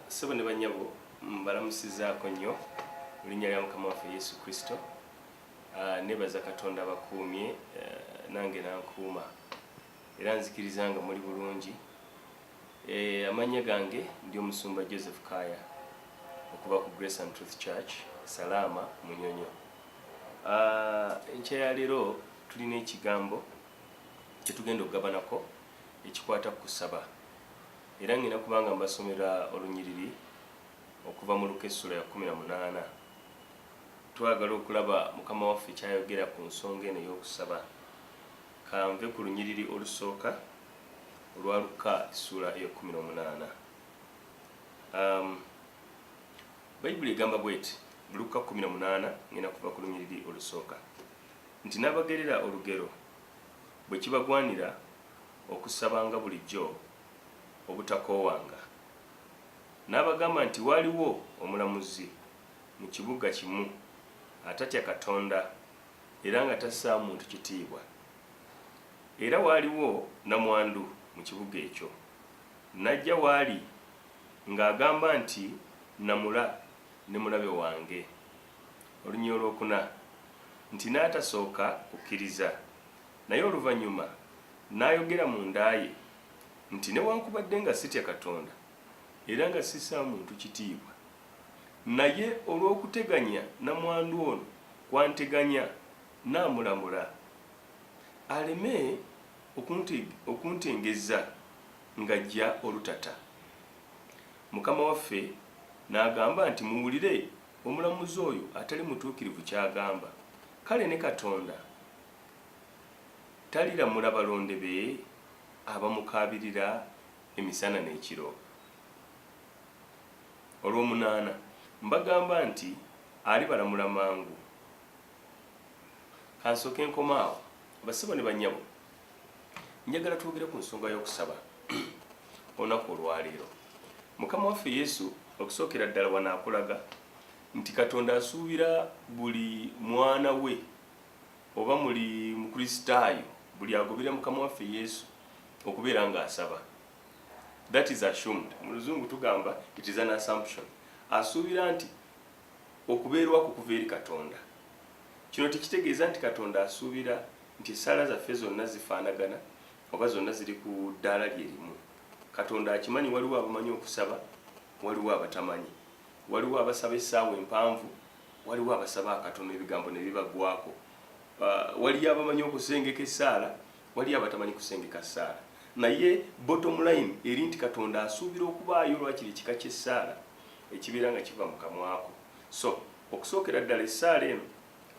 sebo ne banyabo mbalamusizaako nnyo erinnya lya mukama waffe yesu kristo ah, nebaza katonda bakuumye eh, nange nankuuma era nzikiriza nga muli bulungi Eh, amannya gange ndi omusumba joseph kaya okuva ku grace and truth church salaama munyonyo ah, enkya ya leero tulina ekigambo kyetugenda okugabanako ekikwata ku kusaba era ngenda kubanga mbasomera olunyiriri okuva mu luka essula ya 18 twagala okulaba mukama waffe kyayogera ku nsonga eno ey'okusaba kanve ku lunyiriri olusooka olwa Lukka essuula ey'ekkumi n'omunaana. Um, Bayibuli egamba bw'eti Lukka kkumi na munaana ng'enda kuva ku lunyiriri olusooka nti n'abagerera olugero bwe kibagwanira okusabanga bulijjo obutakoowanga n'abagamba nti waaliwo omulamuzi mu kibuga kimu atatya katonda era nga tassaa muntu kitiibwa Era waaliwo nnamwandu mu kibuga ekyo, n'ajja w'ali ng'agamba nti, Nnamula ne mulabe wange. Oluny. Olwokuna, nti n'atasooka kukkiriza, naye oluvannyuma n'ayogera mu nda ye nti, Newankubadde nga sitya Katonda era nga sissa muntu kitiibwa, naye olw'okuteganya nnamwandu ono kw'anteganya, Nnaamulamula aleme okuntengezza ng'aggya olutata. Mukama waffe n'agamba nti, Muwulire omulamuzi oyo atali mutuukirivu ky'agamba. Kale ne Katonda taliramula balonde be abamukaabirira emisana n'ekiro? Olw'omunaana, mbagamba nti alibalamula mangu, Kansooke nkoma awo. Bassebo ne bannyabo, njagala twogere ku nsonga y'okusaba olunaku olwaleero. Mukama waffe Yesu okusookera ddala wano akulaga nti Katonda asuubira buli mwana we oba muli Mukristaayo buli agoberera Mukama waffe Yesu okubeera ng'asaba. That is assumed. Mu luzungu tugamba it is an assumption. Asuubira nti Okubeerwako kuva eri Katonda. Kino tekitegeeza nti Katonda asuubira nti essaala zaffe zonna zifaanagana oba zonna ziri ku ddaala lye limu. Katonda akimanyi waliwo abamanyi okusaba, waliwo abatamanyi. Waliwo abasaba essaawa empanvu, waliwo abasaba akatono ebigambo ne bibagwako. Waliyo abamanyi okusengeka essaala, Waliyo abatamanyi kusengeka ssaala, naye bottom line eri nti Katonda asuubira okubaayo lwakiri ekika ky'essaala ekibeera nga kiva mu kamwako. So okusookera ddala essaala eno,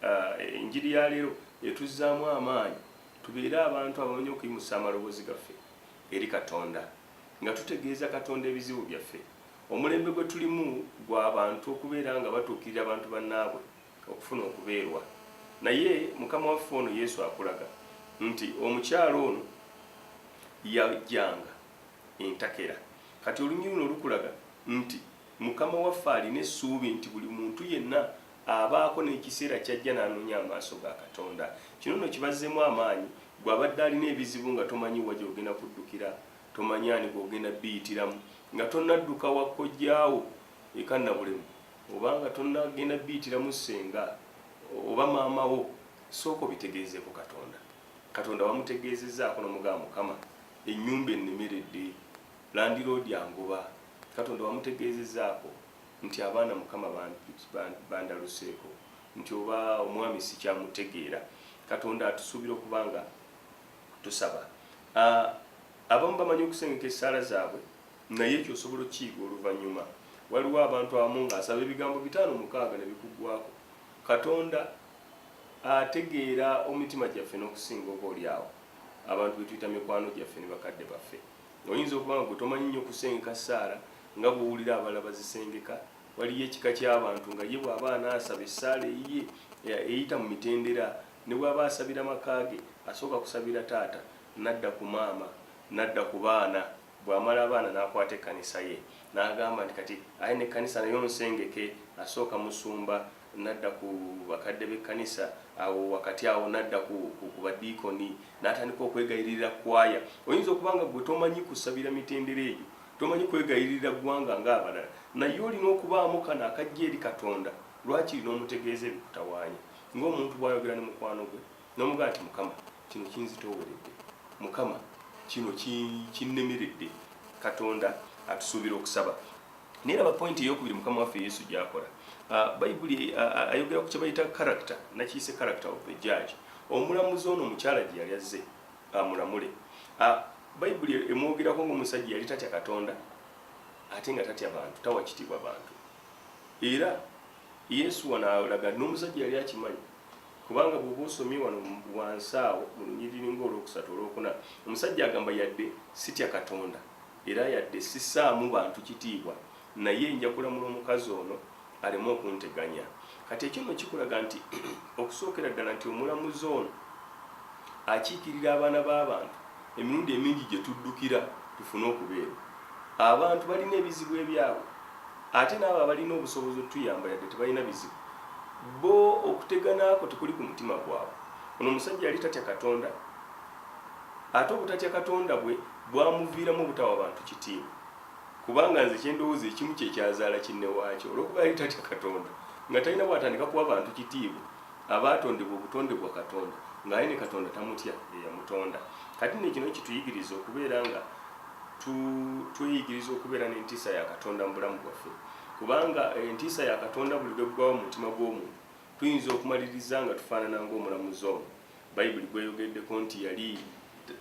uh, enjiri ya leero etuzzaamu amaanyi tubeere abantu abamanyi okuyimusa amaloboozi gaffe eri Katonda nga tutegeeza Katonda ebizibu byaffe. Omulembe gwe tulimu gwa bantu okubeera nga batuukirira abantu bannaabwe. okufuna okubeerwa naye mukama waffe ono yesu akulaga nti omukyalo ono yajjanga entakera kati olunyiri luno lukulaga nti mukama waffe alina essuubi nti buli muntu yenna abaako n'ekiseera kyajja n'anoonya amaaso ga katonda kino no kibazzemu amaanyi gwe abadde alina ebizibu nga tomanyi wa gyogenda kuddukira tomanyi ani gwogenda biyitiramu nga tonadduka wakkojjaawo eka nabulemu oba nga tonagenda biyitiramu senga oba maama wo sooka obitegeezeeko katonda katonda wamutegeezezaako nomugaa mukama enyumba ennemeredde landiroodi angoba katonda wamutegeezezaako nti abaana mukama bandaluseeko nti oba omwami sikyamutegeera katonda atusuubira okuba nga tusaba ah, abamu bamanyi okusengeka essaala zaabwe naye ekyo osobola okukiyiga oluvannyuma waliwo abantu abamu ng'asaba ebigambo bitaano mukaaga ne bikuggwako katonda ategeera omitima gyaffe n'okusinga oba oli awo abantu be tuyita mikwano gyaffe ne bakadde baffe oyinza okuba nga gwe tomanyi nnyo kusengeka ssaala nga bw'owulira abalala bazisengeka waliyo ekika ky'abantu nga ye bw'aba anaasaba essaala eyiye eyita mu mitendera ne bw'aba asabira maka ge asooka kusabira taata n'adda ku maama n'adda ku baana Bw'amala abaana n'akwata ekkanisa ye n'agamba nti kati aye n'ekkanisa nayo nsengeke, asooka musumba n'adda ku bakadde b'ekkanisa, awo wakati awo n'adda ku ku badiikoni n'atandika okwegayiririra kkwaya. Oyinza okuba nga ggwe tomanyi kusabira mitendera egyo, tomanyi kwegayiririra ggwanga ng'abalala, naye olina okubaamu kano akajja eri Katonda. Lwakiri n'omutegeeza ebikutawaanya ng'omuntu bw'ayogera ne mukwano gwe n'omugamba nti, Mukama, Kino kinzitooweredde Mukama, kino kinnemeredde. Katonda atusuubira okusaba. Naye laba pointi ey'okubiri Mukama waffe Yesu gy'akola. Ah, Bayibuli ah, ah, ayogera ku kye bayita character, nakiyise character of the judge. Omulamuzi ono omukyala gye yali azze amulamule. Bayibuli emwogerako ng'omusajja yali tatya Katonda ate nga tatya bantu, tawa kitiibwa bantu. Era Yesu wano alaga n'omusajja yali akimanyi Kubanga bw'oba osomye wano wansi awo mu lunyiriri nga olwokusatu, olwokuna, omusajja agamba, Yadde sitya Katonda, era yadde sissaamu bantu kitiibwa, naye nja kulamula omukazi ono aleme okunteganya. Kati, ekyo nno kikulaga nti, okusookera ddala, nti omulamuzi ono akiikirira abaana b'abantu. Emirundi emingi gye tuddukira tufune okubeera. Abantu balina ebizibu ebyabwe ate n'abo abalina obusobozi otuyamba yadde tebalina bizibu bo okutegana kwo tekuli ku mutima gwabwe. Ono omusajja yali tatya Katonda ate obutatya Katonda bwe bwamuviiramu obutawa bantu kitiibwa kubanga nze kye ndowooza ekimu kye kyazaala kinnewaakyo olw'okuba yali tatya Katonda nga talina bw'atandika kuwa bantu kitiibwa. abaatondebwa obutonde bwa katonda ng'aye ne katonda tamutya eyamutonda kati ne kino kituyigiriza okubeera nga tweyigiriza okubeera n'entiisa ya katonda mu bulamu bwaffe kubanga eh, entiisa ya katonda buli lweggwawo mu mutima gw'omuntu tuyinza okumaliriza nga tufaanana ng'omulamuzi omu bayibuli gweyogeddeko nti yali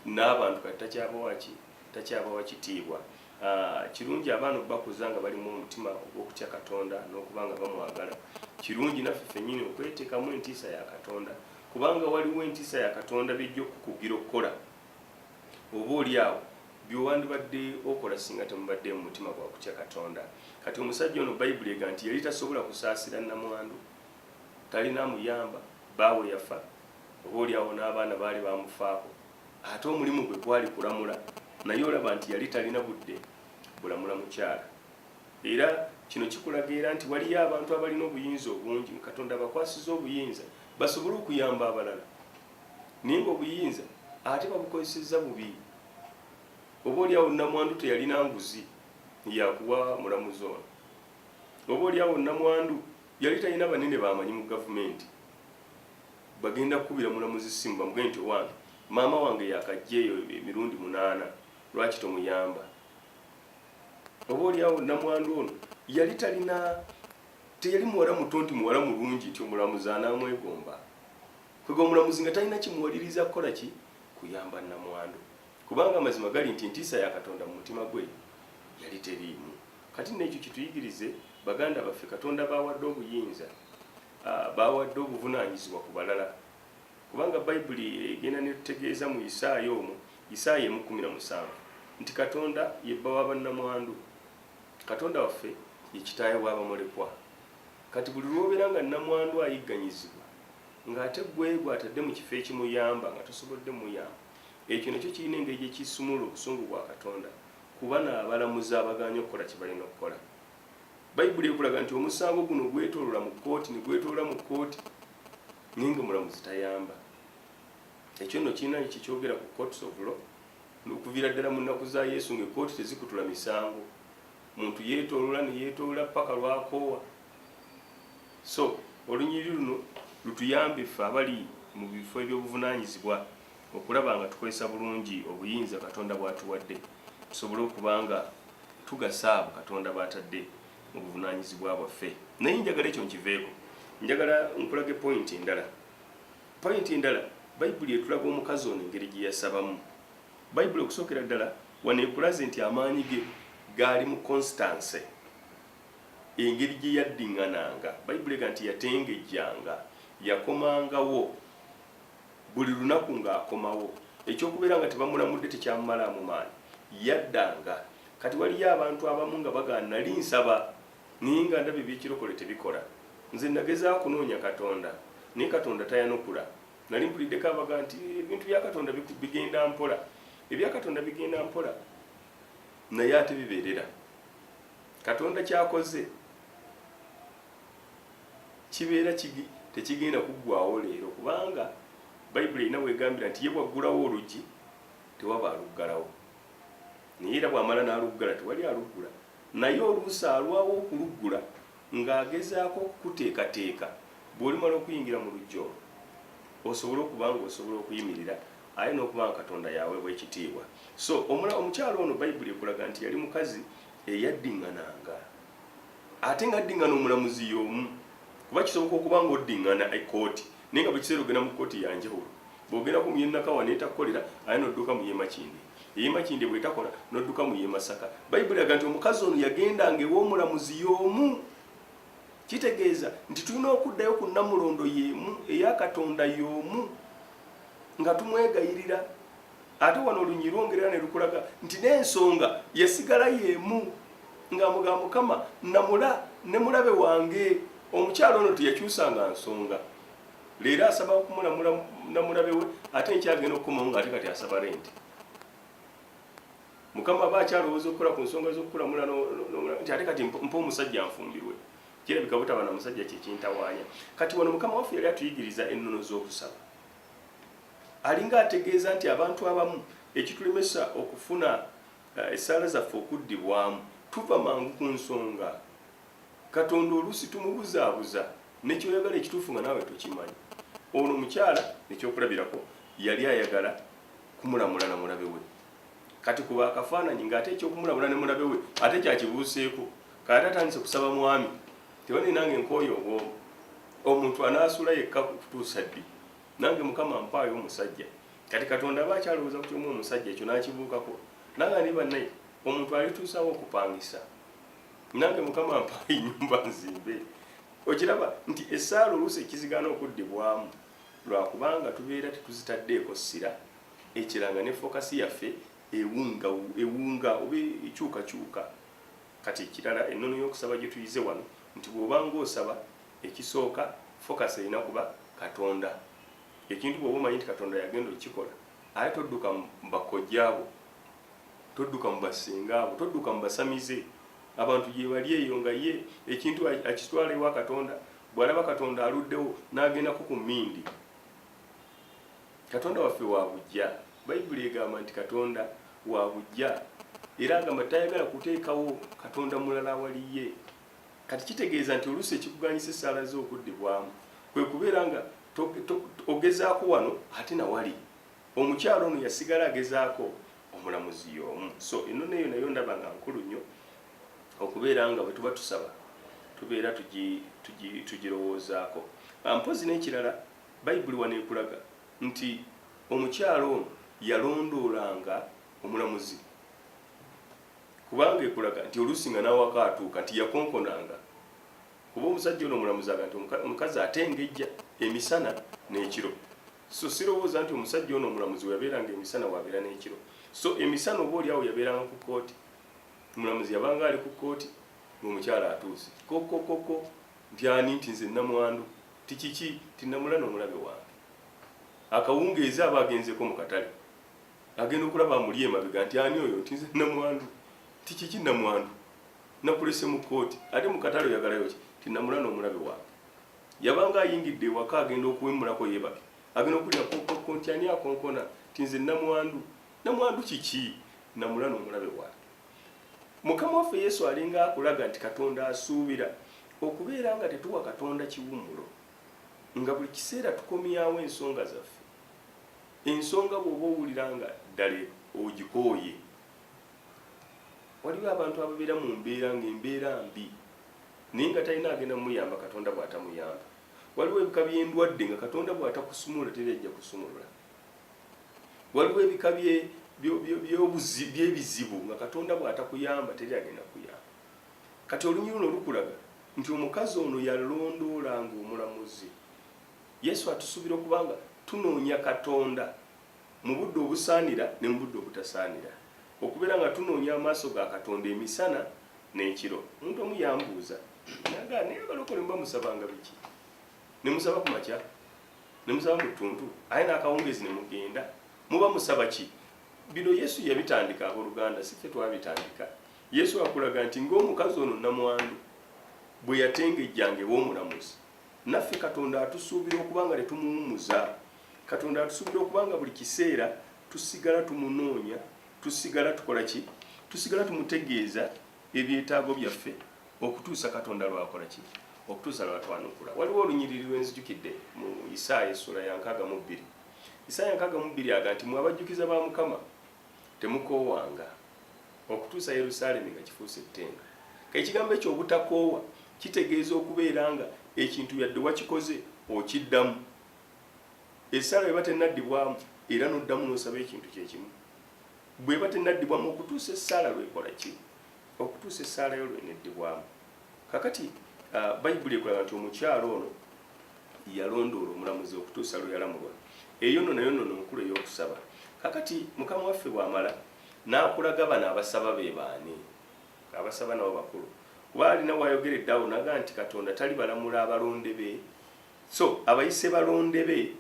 n'abantu kati takyabawaki takyabawa kitiibwa. Kirungi abaana okubakuza nga balimu omutima ogw'okutya Katonda n'okuba nga bamwagala. Kirungi naffe fennyini okweteekamu entiisa ya Katonda, kubanga waliwo entiisa ya Katonda by'ejja okukugira okukola, oba oli awo by'owandibadde okola singa temubadde mu mutima gwa kutya Katonda. Kati omusajja ono Bayibuli ega nti yali tasobola kusaasira nnamwandu, talina amuyamba, bbaawe yafa, oba oli awo n'abaana baali bamufaako. Ate omulimu gwe gwali kulamula naye olaba nti yali talina budde bulamula mukyala. Era kino kikulaga era nti waliyo abantu abalina obuyinza obungi nga Katonda abakwasiza obuyinza basobole okuyamba abalala naye nga obuyinza ate babukozesezza bubi. Oba oli awo namwandu teyalina nguzi yakuwa mulamuzi ono. Oba oli awo namwandu yali talina banene bamanyi mu gavumenti. bagenda kukubira mulamuzi ssimu bamugambye nti owange maama wange yakajja eyo emirundi munaana lwaki tomuyamba oba olyawo namwandu ono yali talina teyali muwala muto nti muwala mulungi nti omulamuzi anamwegomba kwega omulamuzi nga talina kimuwaliriza kukola ki kuyamba namwandu kubanga amazima gali nti ntiisa ya katonda mu mutima gwe yali teriimu kati nekyo kituyigirize baganda baffe katonda bawadde obuyinza Baawadde obuvunaanyizibwa ku balala, kubanga Baibuli egenda n'etutegeeza mu Isaaya omu, Isaaya emu kkumi na musanvu, nti Katonda ye bba wa bannamwandu. Katonda waffe ye kitaawe w'abamulekwa. Kati buli lw'obeera nga nnamwandu ayigganyizibwa, nga ate ggwe gw'atadde mu kifo ekimuyamba nga tosobodde muyamba, ekyo nakyo kirina engeri gye kisumulula obusungu bwa Katonda ku bano abalamuzi abagaanye okukola kye balina okukola. bayibuli ekulaga nti omusango guno gwetolola mu kooti negwetolola mu kooti naye nga omulamuzi tayamba ekyo nno kirina kyekyogera ku courts of law nokuviira ddala mu nnaku za yesu nga ekooti tezikutula misango muntu yetolola neyetolola paka lwakoowa so olunyiri luno lutuyambe ffe abali mu bifo ebyobuvunanyizibwa okulaba nga tukozesa bulungi obuyinza Katonda bw'atuwadde tusobole okuba nga tugasa abo Katonda b'atadde mu buvunaanyizibwa bwaffe. Naye njagala ekyo nkiveeko, njagala nkulage pointi endala. Pointi endala, Bayibuli etulaga omukazi ono engeri gye yasabamu. Bayibuli okusookera ddala wano ekulaze nti amaanyi ge gaali mu konsitanse, engeri gye yaddiŋŋananga. Bayibuli ega nti yatengejjanga, yakomangawo. Buli lunaku ng'akomawo. Eky'okubeera nga tebamulamudde tekyamumalaamu maanyi. Yaddanga. Kati waliyo abantu abamu nga bagaana, Nnali nsaba, naye nga ndaba eby'ekirokole tebikola. Nze nnagezaako okunoonya Katonda, naye Katonda tayanukula. Nnali mpuliddeko abagamba nti, Ebintu bya Katonda bigenda mpola. Ebya Katonda bigenda mpola, naye ate bibeerera. Katonda ky'akoze. kibeera tekigenda kuggwaawo leero, kubanga Bayibuli erina w'egambira nti ye bw'aggulawo oluggi tewaba aluggalawo, naye era bw'amala n'aluggala tewali aluggula. Naye oluusi alwawo okuluggula ng'agezaako okukuteekateeka bw'olimala okuyingira mu luggya olwo osobole okuba ng'osobola okuyimirira aye n'okuba nga Katonda yaweebwa ekitiibwa. So omukyala ono Bayibuli ekulaga nti yali mukazi eyadding'ananga. ate nga addingana omulamuzi y'omu kuba kisoboka okuba nga oddingana ekkooti naye nga buli kiseera ogenda mu kkooti ya njawulo bw'ogendako mu y'e Nakawa n'etakukolera ate n'odduka mu y'e Makindye ey'e Makindye bw'etakola n'odduka mu y'e Masaka bayibuli eraga nti omukazi ono yagendanga ew'omulamuzi y'omu kitegeeza nti tulina okuddayo ku nnamulondo y'emu eya Katonda y'omu nga tumwegayirira ate wano olunyiryi lwongerera ne lukulaga nti n'ensonga yasigala y'emu ng'amuga mukama namula ne mulabe wange omukyalo ono teyakyusanga nsonga leero asaba okumulamula namulabe we ate nkyagenda okukomawo ng'ate kati asaba renti mukama aba akyalowooza okukola ku nsonga z'okukulamula nti ate kati mpa omusajja nfumbirwe kirabika butaba na musajja kyekintawaanya kati wano mukama waffe yali atuyigiriza ennono z'okusaba Alinga ategeeza nti abantu abamu ekitulemesa okufuna essaala zaffe okuddibwamu tuva mangu ku nsonga. Katonda oluusi tumubuzaabuza ne ky'oyagala ekituufu nga naawe tokimanyi. Ono omukyala ekyokulabirako yali ayagala kumulamula na mulabe we. Kati kuba akafaananyi ng'ate eky'okumulamula ne mulabe we ate kyakibuuseeko. Kati ate atandise kusaba mwami nti, Bannange nange nkooye obw'omu. Omuntu anaasula yekka okutuusa ddi? nange mukama ampaayo omusajja kati katonda aba akyalowooza ku kyomu omusajja ekyo nakibuukako nanga ndi bannaye omuntu alituusawo okupangisa nange mukama ampaayo enyumba nzimbe okiraba nti esaala oluusi ekizigaana okuddibwamu lwakubanga tubeera tetuzitaddeeko ssira ekiranga ne fokasi yaffe ewunga ewunga oba ekyukakyuka kati ekirala ennono y'okusaba gye tuyize wano nti bw'obanga osaba Ekisooka focus erina kuba katonda ekintu bwoba omanyi nti katonda yagenda okukikola aye todduka mubakojja abo todduka mubasinga abo todduka mubasamize abantu gyebali eyo nga ye ekintu akitwala ewa katonda bwalaba katonda aluddewo nagendako ku mindi katonda waffe wabujja bayibuli egamba nti katonda wabujja era agamba tayagala kuteekawo katonda mulala awaliye Kati kitegeeza nti oluusi ekikuganyisa essaala zo okuddibwamu kwe kubeera nga ogezaako wano ate na wali. Omukyala ono yasigala agezaako omulamuzi y'omu. So ennono eyo nayo ndaba nga nkulu nnyo okubeera nga bwe tuba tusaba tubeera tugirowoozaako. Ah, mpozzi n'ekirala bayibuli wano ekulaga nti omukyala ono yalondoolanga omulamuzi kubanga ekulaga nti oluusi nga n'awaka atuuka nti yakonkonanga kuba omusajja ono omulamuzaga nti omukazi atengejja emisana n'ekiro so sirowooza nti omusajja ono omulamuzi weyabeeranga emisana wabeera n'ekiro so emisana oba oliawo yabeeranga ku kkooti omulamuzi yabanga ali ku kkooti ng'omukyala atuuse kokokoko nti ani nti nze namwandu ti kiki ti namulana omulabe wange akawungeezi aba agenzeko mu katale agenda okulaba amuli emabega nti ani oyo nti nze namwandu nti kiki namwandu nakulese mu kooti ate mu katale oyagalayo ki nti namula n'omulabe wange yabanga ayingidde ewaka agenda okuwemulako yebake agenda okulira kokoko nti ani akonkona nti nze namwandu namwandu kiki namula n'omulabe wange mukama waffe yesu alinga akulaga nti katonda asuubira okubeera nga tetuwa katonda kiwummulo nga buli kiseera tukomyawo ensonga zaffe Ensonga bw'oba owulira nga ddala ogikooye, Waliwo abantu ababeera mu mbeera ng'embeera mbi naye nga talina agenda muyamba Katonda bw'atamuyamba. Waliwo ebika by'endwadde nga Katonda bw'atakusumulula teri ajja kusumulula. Waliwo ebika by'ebizibu nga Katonda bw'atakuyamba teri agenda kuyamba. Kati olunyiriro lukulaga nti omukazi ono yalondoola ng'omulamuzi Yesu atusuubira okuba nga tunoonya Katonda mu budde obusaanira ne mu budde obutasaanira, okubeera nga tunoonya amaaso ga Katonda emisana n'ekiro. Omuntu omu yambuuza naga naye abalokole muba musabanga biki? Ne musaba ku makya, ne musaba mu ttuntu, aye n'akawungeezi ne mugenda, muba musaba ki? Bino Yesu yabitandika, abooluganda, si ffe twabitandika. Yesu akulaga nti ng'omukazi ono nnamwandu bwe yatengejjanga ew'omulamuzi naffe katonda atusuubira okuba nga tetumuwumuza katonda atusuubira okuba nga buli kiseera tusigala tumunoonya tusigala tukola ki tusigala tumutegeeza ebyetaago byaffe okutuusa katonda lwakola ki okutuusa lwatwanukula waliwo olunyiriri lwenzijukidde mu isaaya essuula ya nkaaga mu bbiri isaaya nkaaga mu bbiri aga nti mwe abajjukiza ba mukama Temukoowanga okutuusa Yerusaalemi nga kifuuse ettendo. Ekigambo ekyo obutakoowa kitegeeza okubeera nga ekintu yadde wakikoze okiddamu. Essaala bweba tennaddibwamu era n'oddamu n'osaba ekintu kye kimu. Bweba tennaddibwamu okutuusa essaala lw'ekola ki? Okutuusa essaala yo lw'eneddibwamu. Kakati uh, Bayibuli ekulaga nti omukyalo ono yalondoola omulamuzi okutuusa lwe yalamulwa. Eyo nno nayo nnono nkulu ey'okusaba. Kakati mukama waffe bw'amala n'akulaga bano abasaba be baani? Abasaba nabo bakulu. Kuba alina w'ayogera eddawo naga nti Katonda tali balamula abalonde be. So abayise balonde be,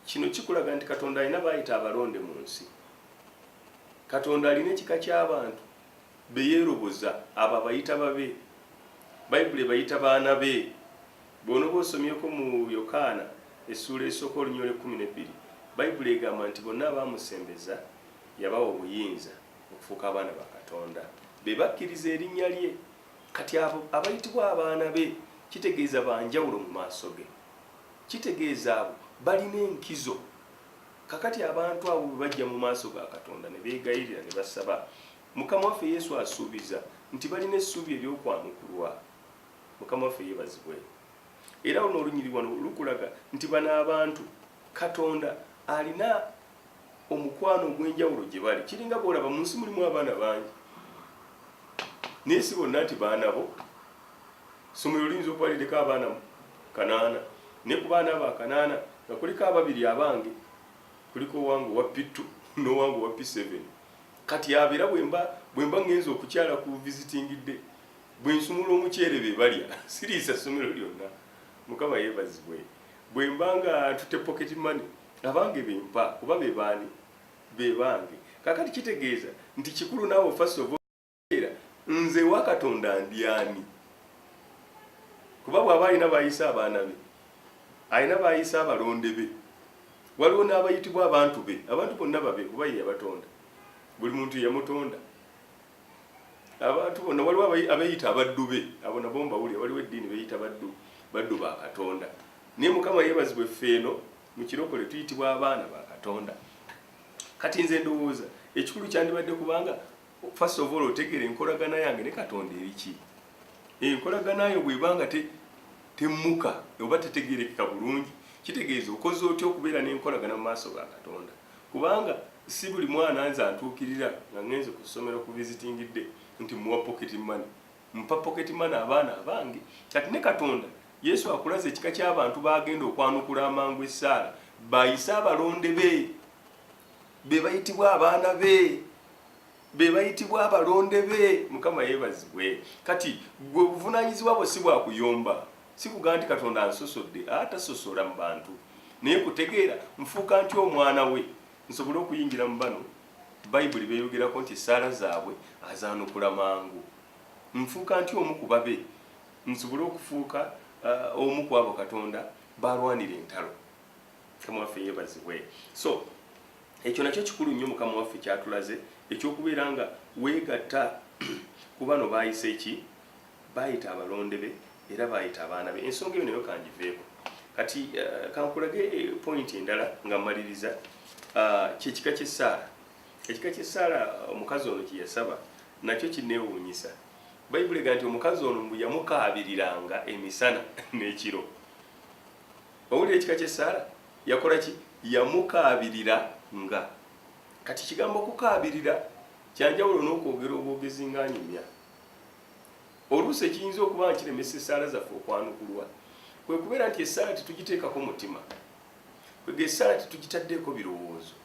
kino kikulaga nti Katonda alina baayita abalonde mu nsi. Katonda alina ekika ky'abantu be yeeroboza, abo abayita babe. Bayibuli ebayita baana be. Bw'onoba osomyeko mu Yokaana essuula esooka oluny. Olw'ekkumi n'ebbiri, Bayibuli egamba nti bonna abaamusembeza yabawa obuyinza okufuuka abaana ba Katonda, be bakkiriza erinnya lye. Kati abo abayitibwa abaana be kitegeeza ba njawulo mu maaso ge. Kitegeeza abo balina enkizo. kakati abantu abo bwe bajja mu maaso ga katonda ne beegayirira ne basaba mukama waffe yesu asuubiza nti balina essuubi ery'okwanukulwa mukama waffe yeebazibwe era luno olunyiri wano lukulaga nti bano abantu katonda alina omukwano ogw'enjawulo gye bali kiringa boolaba mu nsi mulimu abaana bangi naye si bonna nti baana bo Ssomero liyinza okuba liriko abaana kanaana naye ku baana abo akanaana nga kuliko ababiri abange kuliko owange owa pittu n'owange owa piseveni kati abera bwemba bwemba ngenza okukyala ku visitingidde bwensumula omuceere be balya siriisa ssomero lyonna mukama yeebazibwe bwemba nga ntute pocket money abange bempa kuba bebaani bebange kakati kitegeeza nti kikulu naawe fasi ova nze ewa katonda ndyani kuba bwaba alina bayisa abaana be alina bayisa abalonde be waliwo n'abayitibwa abantu be abantu bonna babe kuba ye yabatonda buli muntu yamutonda abantu bonna waliwo abeyita abaddu be abo nabo mbawulire waliwo eddiini beyita baddu baddu ba katonda naye mukama yebazibwa effeeno mu kirokole tuyitibwa abaana ba katonda kati nze ndowooza ekikulu kyandibadde kubanga first of all otegere enkolagana yange ne katonda eriki enkolagana yo bwebanga te temmuka oba tetegerekeka bulungi kitegeeza okoze otya okubeera n'enkolagana mu maaso ga katonda kubanga si buli mwana nze antuukirira nga ngenze ku ssomero ku visitingidde nti muwa pocket money mpa pocket money abaana abange kati ne katonda yesu akulaza ekika ky'abantu baagenda okwanukula amangu essaala bayise abalonde be be bayitibwa abaana be be bayitibwa abalonde be mukama yebazibwe kati gwe obuvunanyizibwa bwo si bwakuyomba sikuga nti katonda ansosodde atasosola mu bantu naye kutegeera nfuuka ntya omwana we nsobole okuyingira mu bano bayibuli beyogerako nti esaala zaabwe azaanukula mangu nfuuka ntya omu ku babe nsobole okufuuka uh, omu ku abo katonda balwanira entalo mukama waffe yebazibwe so ekyo nakyo kikulu nnyo mukama waffe kyatulaze ekyokubeera nga weegatta ku bano baayise ki baayita abalonde be era baayita abaana be ensonga eyo nayo kangiveeko kati eh, kankulage eh, point endala nga mmaliriza ah, kyekika kyessaala ekika kyessaala eh, omukazi ono kye yasaba nakyo kinneewuunyisa bayibuli ga nti omukazi ono mbu yamukaabiriranga emisana n'ekiro Owulira ekika ky'essaala? Yakola ki? Yamukaabirira nga. Kati kigambo okukaabirira kyanjawulo n'okwogera obwogezi ng'anyumya. Oluusi ekiyinza okuba nga kiremesa essaala zaffe okwanukulwa kwe kubeera nti essaala tetugiteekako mutima, kwega essaala tetugitaddeeko birowoozo.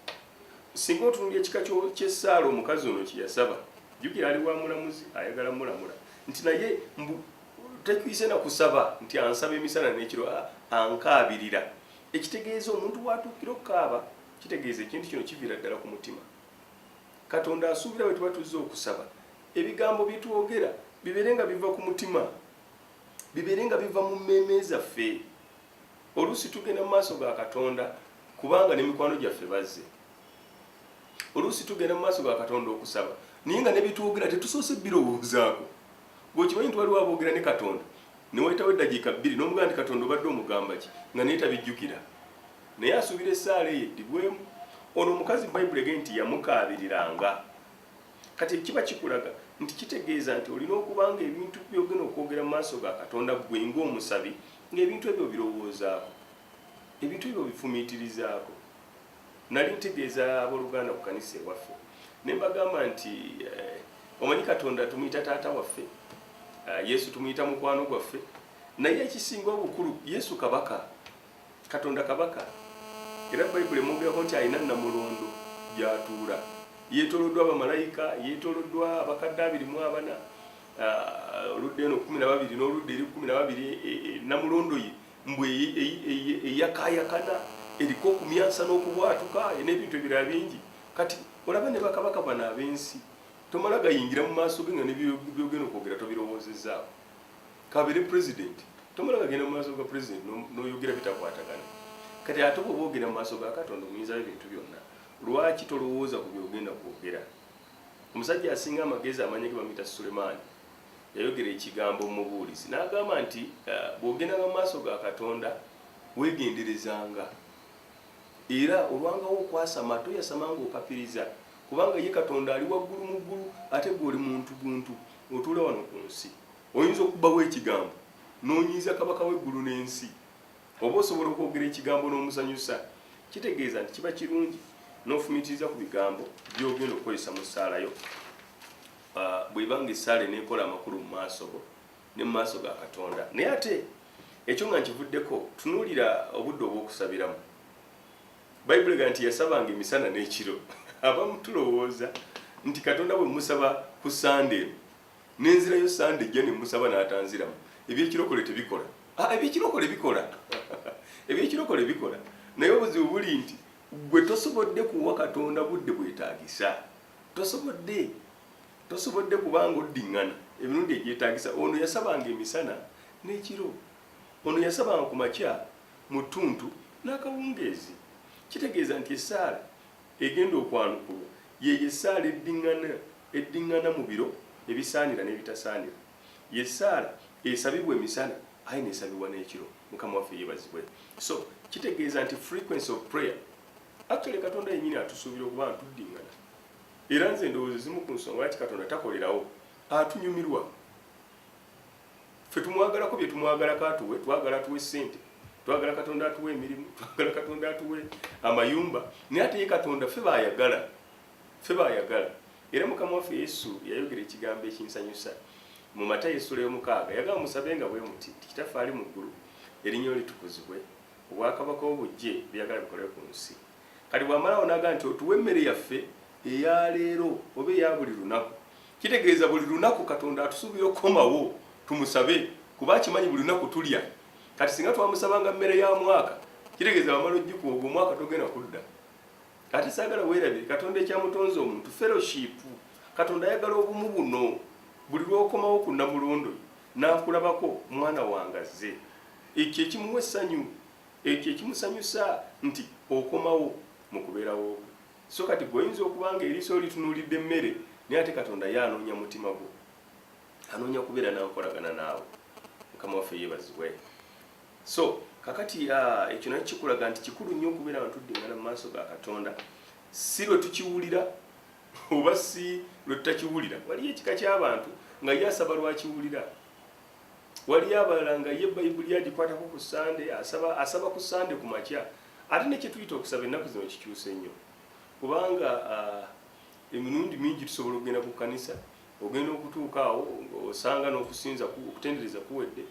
Singa otunula ekika ky'essaala omukazi ono kye yasaba, jjukira ali wa mulamuzi ayagala mulamula nti naye mbu Tetuyise na kusaba nti ansaba emisana n'ekiro ankaabirira. Ekitegeeza omuntu w'atuukira okukaaba kitegeeza ekintu kino kiviira ddala ku mutima. Katonda asuubira bwe tuba tuzze okusaba ebigambo bye twogera bibeere nga biva ku mutima, bibeere nga biva mu mmeeme zaffe. Oluusi tugenda mu maaso ga Katonda kubanga ne mikwano gyaffe bazze. Oluusi tugenda mu maaso ga Katonda okusaba naye nga ne bye twogera tetusoose birowoozaako. Gwe okimanyi nti waliwo aboogera ne Katonda ne wayitawo eddakiika bbiri n'omugamba nti Katonda obadde omugamba ki nga naye tabijjukira naye asuubira essaala eyo eddibwemu. Ono omukazi Bayibuli egee nti yamukaabiriranga. Kati ekyo kiba kikulaga nti kitegeeza nti olina okuba ng'ebintu by'ogenda okwogera mu maaso ga Katonda ggwe ng'omusabi ng'ebintu ebyo obirowoozaako, ebintu ebyo obifumiitirizaako. Nali ntegeeza abooluganda ku kanisa ewaffe ne mbagamba nti eh, omanyi Katonda tumuyita taata waffe, eh, Yesu tumuyita mukwano gwaffe, naye ekisinga obukulu Yesu kabaka, Katonda kabaka. Era Bayibuli emwogerako nti alina namulondo gy'atuula, yeetooloddwa bamalayika, yeetooloddwa abakadde abiri mu abana, eh, oludda eno kkumi na babiri n'oludda eri kkumi na babiri, eh, eh, namulondo ye mbu eyakayakana eriko okumyansa n'okubwatuka n'ebintu ebirala bingi kati olaba ne bakabaka bano ab'ensi tomala gayingira mu maaso ge nga nebyogenda okwogera tobirowoozezzaako kabere president tomala gagenda mu maaso ga president n'oyogera bitakwatagana kati ate bwoba ogenda mu maaso ga katonda omuyinzawo ebintu byonna lwaki tolowooza ku byogenda kwogera omusajja asinga amagezi amanya ge bamuyita sulemaani Yayogera ekigambo mu mubuulizi n'agamba nti, eh, Bw'ogendanga mu maaso ga Katonda, weegenderezanga, era olwangawo okwasama, toyasama ng'opapiriza, kubanga ye Katonda ali waggulu mu ggulu, ate gwe oli muntu buntu, otuula wano ku nsi. Oyinza okubbawo ekigambo n'onyiiza Kabaka w'eggulu n'ensi, oba osobola okwogera ekigambo n'omusanyusa. Kitegeeza nti kiba kirungi n'ofumiitiriza ku bigambo by'ogenda okukozesa mu ssaala yo. Ah, bweba nga esaala enekola amakulu mu maaso go ne mu maaso ga katonda naye ate ekyo nga nkivuddeko tunuulira obudde obw'okusabiramu bayibuli ga nti yasabanga emisana n'ekiro abamu tulowooza nti katonda bwe musaba ku sande eno nenzirayo sande ejja ne musaba n'atanziramu ebyekirokole tebikola ah, ebyekirokole bikola ebyekirokole bikola naye obuzibu buli nti gwe tosobodde kuwa katonda budde bwetagisa tosobodde tosobodde kubanga oddiŋŋana emirundi egyetaagisa ono yasabanga emisana n'ekiro ono yasabanga ku makya mu ttuntu n'akawungeezi kitegeeza nti essaala egenda okwanukulwa yeyo essaala eddiŋŋana eddiŋŋana mu biro ebisaanira n'ebitasaanira yessaala esabibwa emisana aye nesabibwa n'ekiro mukama waffe yebazibwe so kitegeeza nti frequency of prayer actually katonda yenyini atusuubira okuba ntuddingana era nze endowooza ezimu ku nsonga lwaki katonda takolerawo atunyumirwa fe tumwagalako bye tumwagalako atuwe twagala atuwe ssente twagala katonda atuwe emirimu twagala katonda atuwe amayumba naye ate ye katonda fe bayagala fe bayagala era mukama waffe yesu yayogera ekigambo ekinsanyusa mu mata yesula yomukaaga yagamba musabe nga bwe muti tikitaffe ali mu ggulu erinnya litukuzibwe Obwakabaka bwo bujje, byoyagala bikole ku nsi. Kati bw'amalawo n'agamba nti, Otuwe emmere yaffe eya leero, oba eya buli lunaku. Kitegeeza buli lunaku Katonda atusuubira okukomawo tumusabe kuba akimanyi buli lunaku tulya. Kati singa twamusabanga mmere ya mwaka, kitegeeza wamala ogikuwa, ogwo omwaka togenda kudda. Ate saagala weerabire, Katonda ekyamutonze omuntu, fellowship. Katonda ayagala obumu buno. Buli lw'okomawo ku Nnamulondo Ye, N'ankulabako mwana wange azze. Ekyo ekimuwa essanyu, ekyo ekimusanyusa nti okomawo mu kubeerawo kwe. So kati gwe oyinza okuba nga eriiso lyo litunuulidde mmere, naye ate Katonda ye anoonya mutima gwo. Anoonya kubeera na nkolagana naawe. Mukama waffe yeebazibwe. So kakati ah, ekyo nakyo kikulaga nti kikulu nnyo okubeera nga tuddiŋŋana mu maaso ga Katonda. Si lwe tukiwulira oba si lwe tutakiwulira waliyo ekika ky'abantu nga ye asaba lwakiwulira waliyo abalala nga ye bayibuli agikwatako ku sande asaba asaba ku sande ku makya ate nekyetuyita okusaba ennaku zino kikyuse nnyo kubanga ah, emirundi mingi tusobola okugenda ku kkanisa ogenda okutuuka awo osanga n'okusinza okutendereza kuwedde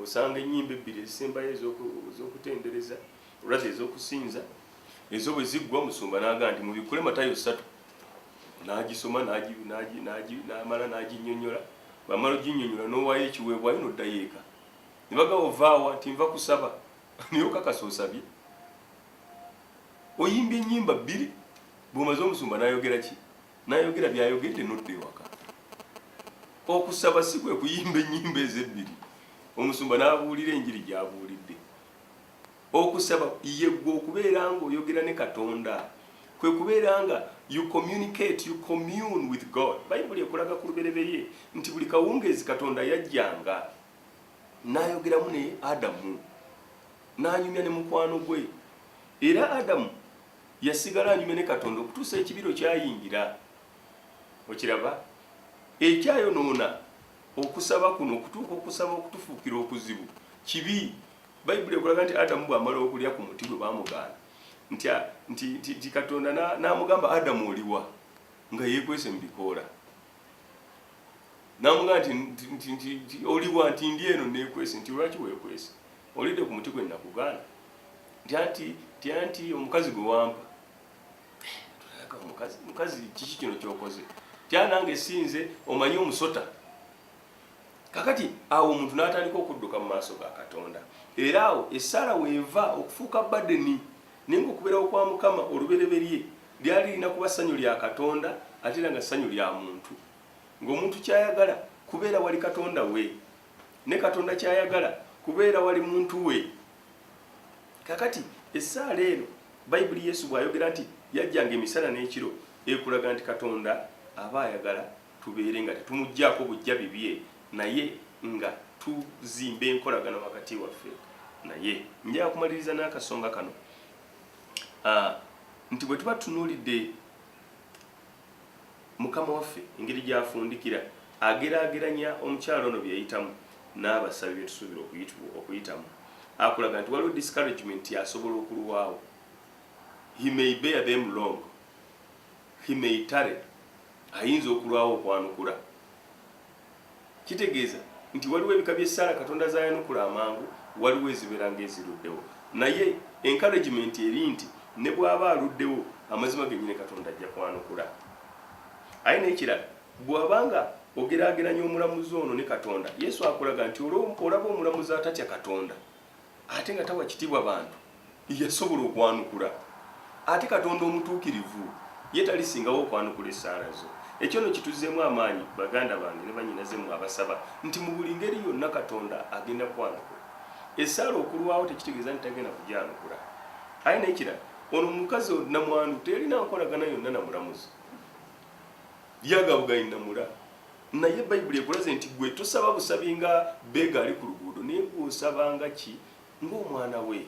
osanga ennyimba ebbiri ezisembayo ez'okutendereza Olwazi ez'okusinza ezo bwe ziggwa musumba n'aga nti mubikkule matayo ssatu n'agisoma n'amala n'aginnyonnyola bamala oginnyonnyola n'owaayo ekiweebwayo n'oddayo eka ne bagamba ovaawa nti nva kusaba naye okakasa osabye oyimba ennyimba bbiri bw'omaze omusumba n'ayogera ki n'ayogera by'ayogedde n'odda ewaka okusaba si kwe kuyimba ennyimba ezo ebbiri omusumba n'abuulira enjiri gy'abuulidde okusaba yegwe okubeera nga oyogera ne katonda kwe kubeera nga you communicate you commune with god bayibuli ekulaga ku lubereberye nti buli kawungeezi katonda yajjanga nayogeramu ne adamu nanyumya ne mukwano gwe era adamu yasigala anyumya ne katonda okutuusa ekibiro kyayingira okiraba ekyayonoona okusaba kuno okutuuka okusaba okutufuukira okuzibu kibi bayibuli ekulaga nti adamu bw'amala okulya ku muti gwe baamugaana nti katonda n'amugamba adamu oliwa nga yeekwese mu bikoola n'amugamba nti oliwa nti ndi eno neekwese nti lwaki weekwese olidde ku muti gwe nakugaana nti anti omukazi gwe wampa mukazi kiki kino kyokoze tyanange sinze omanyi omusota kakati awo omuntu n'atandika okudduka mu maaso ga katonda era awo essaala weeva okufuuka badeni naye nga okubeerawo kwa mukama olubereberye lyali lirina kuba ssanyu lya katonda ate era nga ssanyu lya muntu ng'omuntu kyayagala kubeera wali katonda we ne katonda kyayagala kubeera wali muntu we kakati essaala eno bayibuli yesu bw'ayogera nti yajjanga emisana n'ekiro ekulaga nti katonda aba ayagala tubeere nga tetumuggyako bujja bibye naye nga tuzimba enkolagana wakati waffe naye njaga kumaliriza n'akasonga kano ah, nti bwe tuba tunuulidde Mukama waffe engeri gy'afundikira, ageraageranya omukyala ono bye yayitamu n'abasabi bye tusuubira okuyitibwa okuyitamu. Akulaga nti waliwo discouragement nti asobola okulwawo. He may bear them long. He may tarry. Ayinza okulwawo okwanukula. Kitegeeza nti waliwo ebika by'essaala Katonda z'ayanukula amangu, waliwo ezibeera ng'eziruddewo. Naye encouragement eri nti ne bw'aba aluddewo, amazima gennyini Katonda ajja kwanukula. Ate n'ekirala, bw'aba nga ogeraageranya omulamuzi ono ne Katonda, Yesu akulaga nti olaba omulamuzi atatya Katonda, ate nga tawa kitiibwa bantu yasobola okwanukula ate katonda omutuukirivu ye talisingawo okwanukula essaala zo ekyo no kituzeemu amaanyi baganda bange ne banyinaze mwe abasaba nti mu buli ngeri yonna katonda agenda kwanukula essaala okulwawo tekitegeeza nti tagenda kugyanukula aye nekirala ono mukazi namwandu teyalina nkolagana yonna namulamuzi yagabugayi namula naye bayibuli ekulaze nti gwe tosaba busabi nga beega ali ku luguudo naye gwosaba nga ki ng'omwana we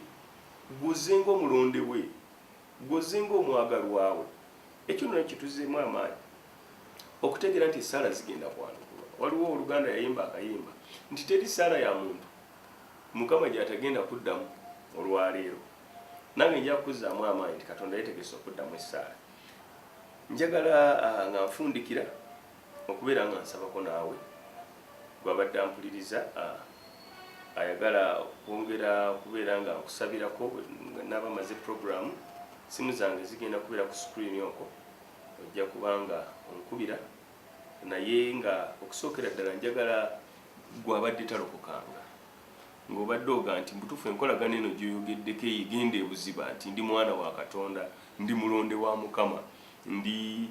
gwoze ng'omulonde we gwoze ng'omwagalwawe ekyo nona kituzeemu amaanyi okutegeera nti esaala zigenda kwanukulwa waliwo oluganda yayimba akayimba nti teri saala ya muntu mukama gyatagenda kuddamu olwaleero nange nja kukuzaamu amaanyi nti katonda yetegese okuddamu esaala njagala ah, nga nfundikira Okubeera nga nsabako naawe gw'abadde ampuliriza a, ayagala okwongera okubeera nga nkusabirako bwe nnaaba mmaze pulogulaamu. Ssimu zange zigenda kubeera ku sikuliini okwo, ojja kuba nga onkubira naye nga okusookera ddala njagala gw'abadde talokokanga ng'obadde oga nti mu butuufu enkolagana eno gy'oyogeddeko eyo egenda ebuziba nti ndi mwana wa Katonda, ndi mulonde wa Mukama, ndi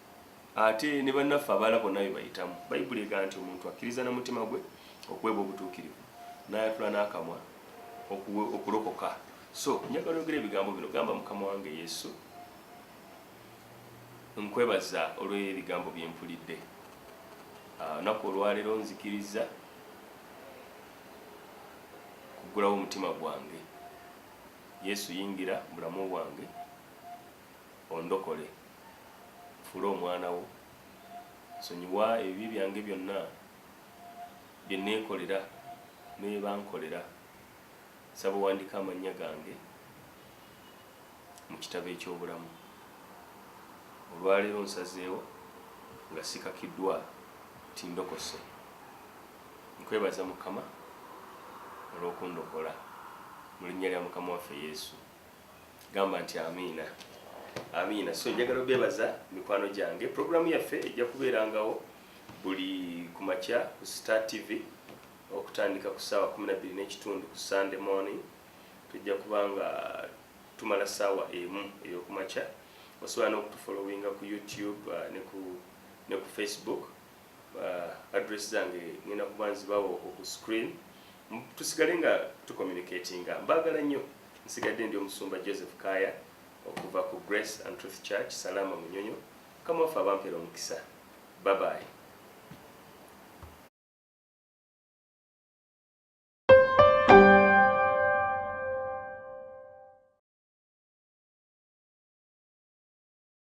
Ate ne bannaffe abaala bonna bye bayitamu. Bayibuli egamba nti omuntu akkiriza na mutima gwe okuweebwa obutuukirivu, n'ayatula n'akamwa okulokoka. So njagala oyogera ebigambo bino, gamba mukama wange Yesu, nkwebaza olw'ebigambo bye mpulidde. Ah, olunaku olwaleero nzikiriza kuggulawo omutima gwange. Yesu yingira bulamu bwange. ondokole, nfuule omwana wo, nsonyiwa ebibi byange byonna bye neekolera ne bye bankolera, nsaba owandike amannya gange mu kitabo eky'obulamu. Olwaleero nsazeewo nga sikakiddwa nti ndokose. Nkwebaza Mukama olw'okundokola. Mu linnya lya Mukama waffe Yesu. gamba nti amiina amiina so njagala obebaza mikwano gyange programu yaffe ejja kubeerangawo buli ku makya ku star tv okutandika ku saawa 12 n'ekitundu ku sunday morning tujja kuba nga tumala saawa emu eyokumakya osobola n'okutufolowinga ku youtube uh, ne ku facebook address zange ngenda kuba nzibawo oku screen tusigale nga tucommunicatinga mbagala nnyo nsigadde ndi omusumba joseph kaya okuva ku grace and truth church salama munyonyo kamwaffe abampera omukisa babayi